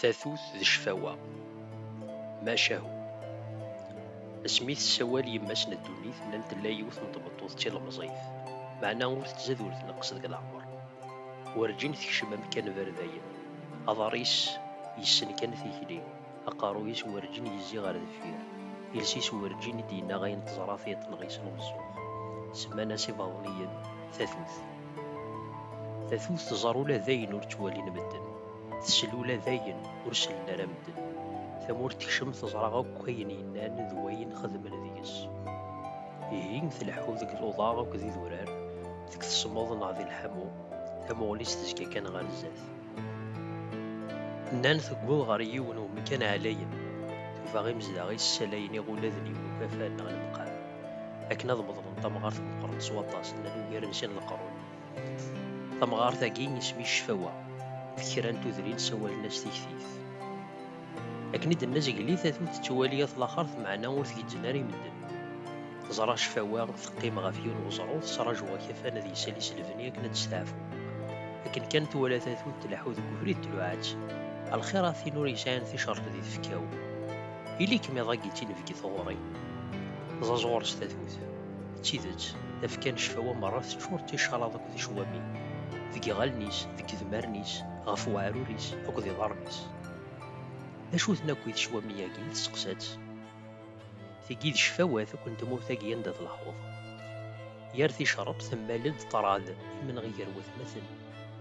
tatut d cfawa maca hu asmi tessawal yemma-s n ddunit nnan tella yiwet n tmeṭṭut d tilemẓit meɛna ur tettzad ur tneqqes deg leɛmer werǧin tekcem amkan berdayen aḍar-is yessen kan tikli Aqerruy-is werǧin yezzi ɣer deffir, iles-is werǧin i d-yennaɣ ayen teẓra tiṭ neɣ isem umeẓẓuɣ. Semman-as ibaḍniyen tatut. Tatut tẓer ula d ayen ur ttwalin medden, tesel ula d ayen ur sellen ara medden. Tamurt tekcem teẓra akk ayen yennan d wayen xedmen deg-s. Ihi tleḥḥu deg luḍa akked idurar, deg tesmeḍ neɣ di lḥamu, tamuɣli-s tezga kan ɣer zdat. Nnan tewweḍ ɣer yiwen umkan ɛlayen, tufa imezdaɣ-is ssalayen iɣuladen i wukafan neɣ lemqam, akken ad meḍlen tamɣart meqqren s waṭas, nnan ugaren sin leqrun. Tamɣart-agi isem-is Cfawa, deg kra n tudrin sawalen-as Tiktift. Akken i d-tenna Zegli, tatut tettwali at laxert meɛna ur tgezzem ara i medden. Teẓra cfawa, teqqim ɣef yiwen weẓru, tesraǧu akafan ad yessali s lebni akken ad testeɛfu. Akken kan twala tatut tleḥḥu deg ubrid tluɛa-tt, A lxir a tin ur yesɛin ticerk di tfekka-w! Ili-kem iḍ agi d tinebgit ɣur-i! Ẓaẓ ɣur-s tatut. D tidet, tafekka n cfawa merra teččur d ticalaḍ akked icwamin, deg yiɣallen-is, deg yedmaren-is, ɣef weɛrur-is akked iḍarren-is. D acu-ten akk i tecwami-agi? Tesseqsa-tt. Tigi d cfawat akk n tmurt-agi anda d lḥuḍ. Yar ticerrebt temmal-d ṭṭrad, imenɣi gar watmaten,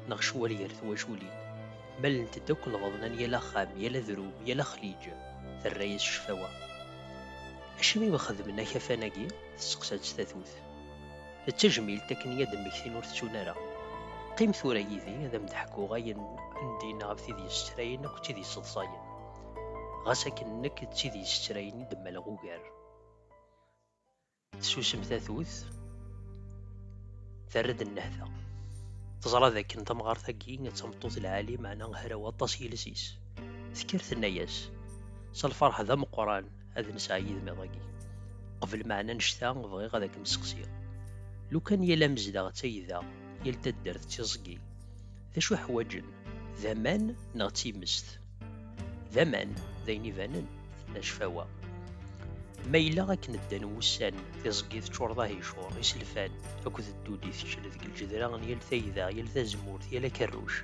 neɣ ccwal gar twaculin. Mmalent-d akk lbaḍna n yal axxam, yal adrum, yal axliǧ, terra-yas ccfawa. Acimi i xedmen akafan-agi? Tesseqsa-tt tatut. tafat. D tajmilt akken i ad-mmektin ur tettun ara. Qqim tura yid-i ad am-d-ḥkuɣ ayen n din ɣef tid yessetrayen akked tid yesseḍsayen. Ɣas akken nekk d tid yessetrayen i d-mmaleɣ ugar. Tessusem tatut, terra-d nnehta. Teẓra d akken tamɣart-agi d tameṭṭut lɛali meɛna hraw aṭas yiles-is. Tekker tenna-yas s lferḥ d ameqqran. ad nesɛa yid-m iḍ-agi. Qbel meɛna annect-a bɣiɣ ad akem-sseqsiɣ. Lukan yal amezdaɣ d tayda, yal taddart d tiẓgi, d acu i ḥwaǧen? D aman neɣ d timest? D aman, d ayen ibanen, d cfawa. Ma yella akken ddan wussan, tiẓgi teččur d ahicur, iselfan akked ddudi teččel deg lǧedra n yal tayda, yal tazemmurt, yal akerruc.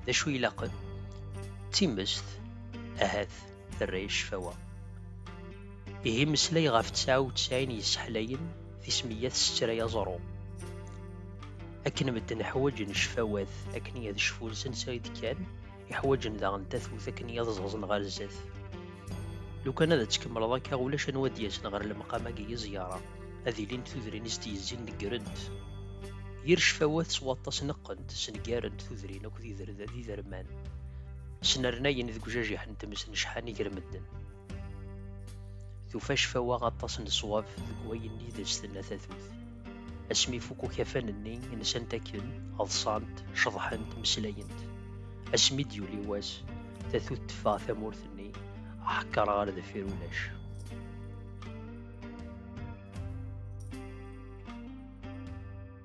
D acu ilaqen? D timest, ahat. terra i ccfawa. Ihi meslay ɣef tesɛa u tesɛin yesseḥlayen tismiyya tessettray aẓru. Akken medden ḥwaǧen ccfawat akken i ad cfun s ansa i d-kkan, i ḥwaǧen daɣen tatut akken i ad ẓẓaẓen ɣer zdat. Lukan ad tt-kemmleḍ akka ulac anwa ad d-yasen ɣer lemqam-agi i ẓyara, ad ilint tudrin i s-d-yezzin negrent. Yir ccfawat s waṭas neqqent, sneggarent tudrin akked iderman. Snernayen deg ujajiḥ n tmes n cḥan i ger medden. Tufa cfawa aṭas n ṣwab deg wayen i d as-tenna tatut. Asmi ifuk ukafan-nni, nsant akken, ḍsant, ceḍḥent, meslayent. Asmi d-yuli wass, tatut teffeɣ tamurt-nni, aḥekkar ɣer deffir ulac.